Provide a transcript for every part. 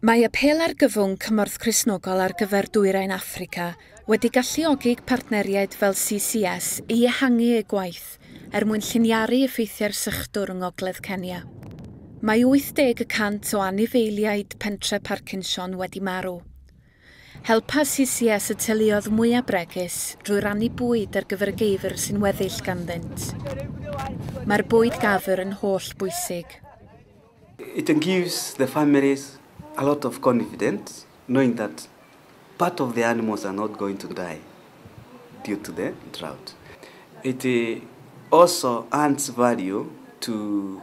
Mae Apêl Argyfwng Cymorth Cristnogol ar gyfer Dwyrain Affrica wedi galluogi partneriaid fel CCS i ehangu eu gwaith er mwyn lliniaru effeithiau'r sychdwr yng ngogledd Kenya. Mae 80 y cant o anifeiliaid pentre Parkinson wedi marw. Helpa CCS y teuluoedd mwyaf bregus drwy rannu bwyd ar gyfer y geifr sy'n weddill ganddynt. Mae'r bwyd gafr yn holl bwysig. It gives the families a lot of confidence knowing that part of the animals are not going to die due to the drought. It also adds value to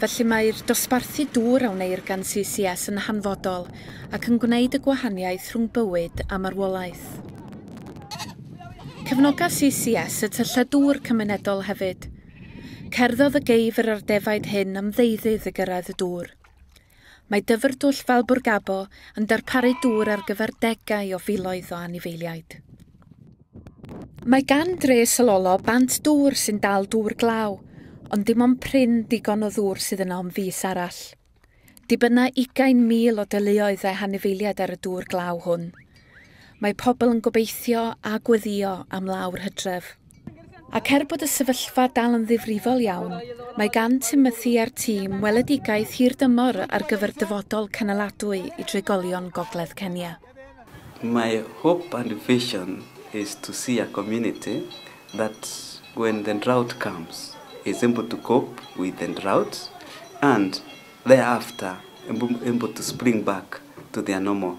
Felly mae'r dosbarthu dŵr a wneir gan CCS yn hanfodol ac yn gwneud y gwahaniaeth rhwng bywyd a marwolaeth. Cefnoga CCS y tyllau dŵr cymunedol hefyd. Cerddodd y geifr a'r defaid hyn am ddeuddydd i gyrraedd y dŵr. Mae Dyfrdwll Valburgabo yn darparu dŵr ar gyfer degau o filoedd o anifeiliaid. Mae gan dre Sololo bant dŵr sy'n dal dŵr glaw, ond dim ond prin digon o ddŵr sydd yna am fis arall. Dibynna ugain mil o deuluoedd a hanifeiliaid ar y dŵr glaw hwn. Mae pobl yn gobeithio a gweddïo am law'r hydref. Ac er bod y sefyllfa dal yn ddifrifol iawn, mae gan Timothy a'r tîm weledigaeth hirdymor ar gyfer dyfodol cynaladwy i drigolion Gogledd Kenya. My hope and vision is to see a community that when the drought comes is able to cope with the drought and thereafter able to spring back to their normal